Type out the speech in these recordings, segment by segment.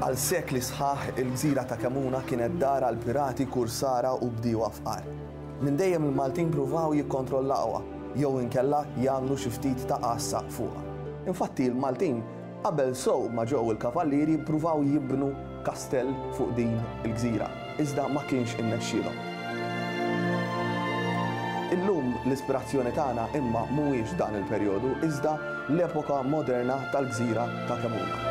Għal sekli sħaħ il-gżira ta' Kemuna kienet dar għal pirati, kursara u bdiewa fqar. Minn dejjem il-Maltin pruvaw jikkontrollawha jew inkella jagħmlu xi ftit ta' għassa fuqha. Infatti l-Maltin Qabel sew ma ġew il-Kavallieri ppruvaw jibnu kastell fuq din il-gżira, iżda ma kienx innexxielhom. Illum l-ispirazzjoni tagħna imma mhuwiex dan il-perjodu iżda l-epoka moderna tal-gżira ta' Kemuna.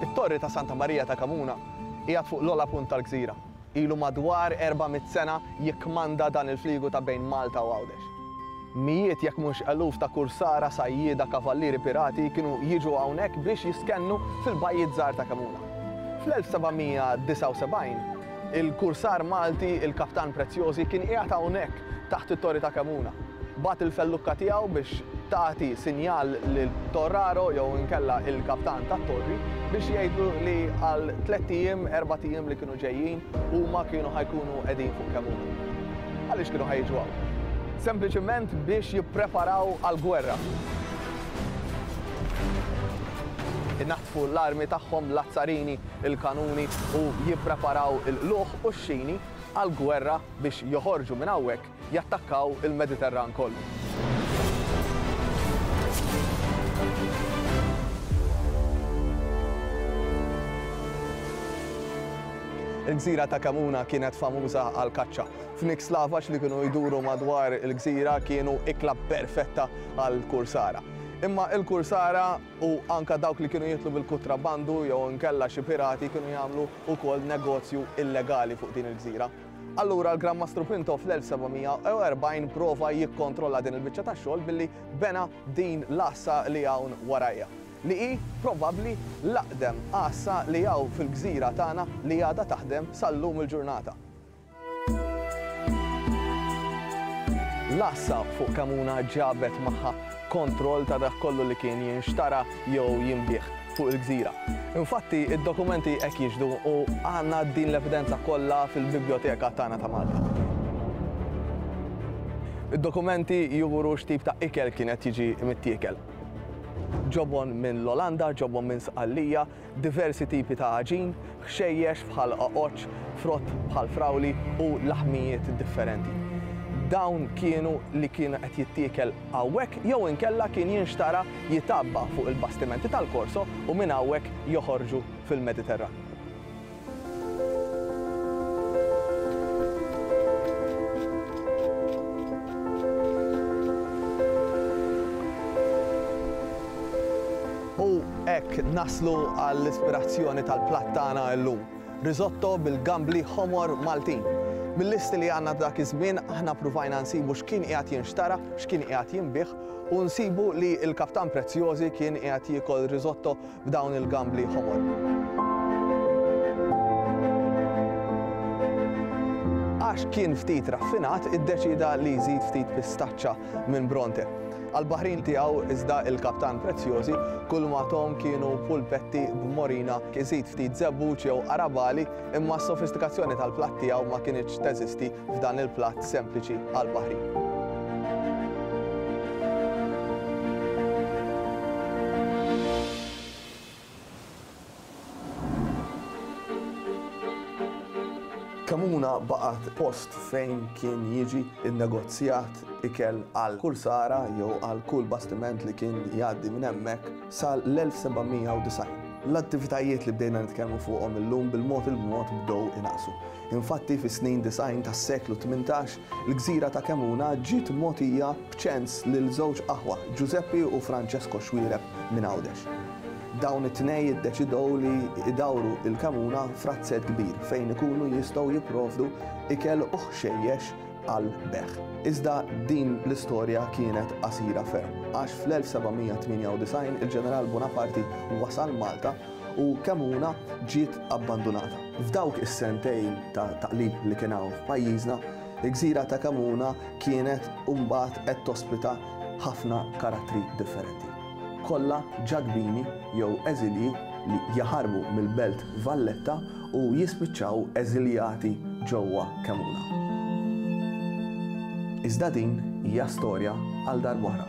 It-Torri ta' Santa Marija ta' Kamuna qiegħed fuq l-ogħla punt tal-gżira. Ilu madwar 400 sena jikkmanda dan il-fliegu ta' bejn Malta u Għawdex. Mijiet jekk mhux eluf ta' kursara, sajjieda, kavallieri pirati kienu jiġu hawnhekk biex jiskennu fil-bajjiet żgħar ta' Kemuna. Fl-1779, il-kursar Malti, il-Kaptan Preziosi, kien qiegħed hawnhekk taħt it-Torri ta' Kemuna. Bagħat il-fellukka tiegħu biex tagħti sinjal lit-torraro jew inkella il-kaptan tat-torri biex jgħidlu li għal tlett ijiem, erbat ijiem li kienu ġejjin, Huma kienu ħa jkunu qegħdin fuq kemm hu. Għaliex kienu ħa jiġu hawn? Sempliċement biex jippreparaw għall-gwerra. Inaddfu l-armi tagħhom, l-azzarini, il-kanuni u jippreparaw il-qlugħ u x-xini għall-gwerra biex joħorġu minn hawnhekk jattakkaw il-Mediterran kollu. Il-gżira ta' Kamuna kienet famuża għall-kaċċa. Fniks slavaġ li kienu jduru madwar il-gżira kienu ikla perfetta għall-kursara. Imma l-kursara u anke dawk li kienu jidħlu bil-kutrabandu jew inkella xi pirati kienu jagħmlu wkoll negozju illegali fuq din il-gżira. Allura l-Gran Mastru Pinto fl-1740 prova jikkontrolla din il-biċċa ta' xogħol billi bena din l-għassa li hawn warajja, li hi probabbli l-aqdem għassa li hawn fil-gżira tagħna li għadha taħdem sal-lum il-ġurnata. L-għassa fuq Kamuna ġabet magħha kontroll ta' dak kollu li kien jinxtara jew jinbiegħ. fuq il-gżira. Infatti, id-dokumenti hekk jixhdu u għandna din l-evidenza kollha fil-bibljoteka tagħna ta' Malta. Id-dokumenti juru x'tip ta' ikel kien qed jiġi mittiekel. Ġobon minn l-Olanda, ġobon minn Sqallija, diversi tipi ta' għaġin, ħxejjex bħal qoqoċċ, frott bħal frawli u laħmijiet differenti. Dawn kienu li kien qed jittiekel. hawnhekk jew inkella kien jinxtara jitgħabba fuq il-bastimenti tal-Korso u minn hawnhekk joħorġu fil-Mediterran. U hekk naslu għall-ispirazzjoni tal-platt tagħna llum. Risotto bil-gambli ħomor Maltin. Mil-listi li għandna dak iż-żmien aħna pruvajna nsibu x'kien qiegħed jinxtara, x'kien qiegħed jinbiegħ u nsibu li l-Kaptan Preziosi kien qiegħed jiekol risotto b'dawn il-gambli ħomor. għax kien ftit raffinat iddeċieda li jżid ftit pistaċċa minn Bronte. Għall-baħrin tiegħu iżda il-kaptan Preziosi kulma tahom kienu pulpetti b'morina, iżid ftit żebbuġ jew arabali imma s-sofistikazzjoni tal-platt tiegħu ma kinitx teżisti f'dan il-platt sempliċi għall-baħrin. Kemmuna baqgħet post fejn kien jiġi nnegozjat ikel għal kull sara jew għal kull bastiment li kien jgħaddi minn hemmhekk sal-1790. L-attivitajiet li bdejna nitkellmu fuqhom illum bil-mod il-mod bdew inaqsu. Infatti fis-snin disgħin tas-seklu tmintax, il-gżira ta' Kemmuna ġiet mogħtija B'ċens lil żewġ aħwa, Ġużeppi u Franċesko Xuereb minn Għawdex. Dawn it-tnej iddeċidew li jdawru il-kemuna f'razzett kbir fejn ikunu jistgħu jipprovdu ikel u ħxejjex għal bejgħ. Iżda din l-istorja kienet qasira ferm, għax fl-1798 il-Ġeneral Buonaparti wasal Malta u kemuna ġiet abbandunata. F'dawk is-sentejn ta' taqlib li kien hawn f'pajjiżna, il-gżira ta' Kemuna kienet mbagħad qed tospita ħafna karattri differenti, kollha ġadbini jew eżilji li jaħarbu mill-Belt Valletta u jispiċċaw eżiljati ġewwa Kemmuna. Iżda din hija storja għal darb'oħra.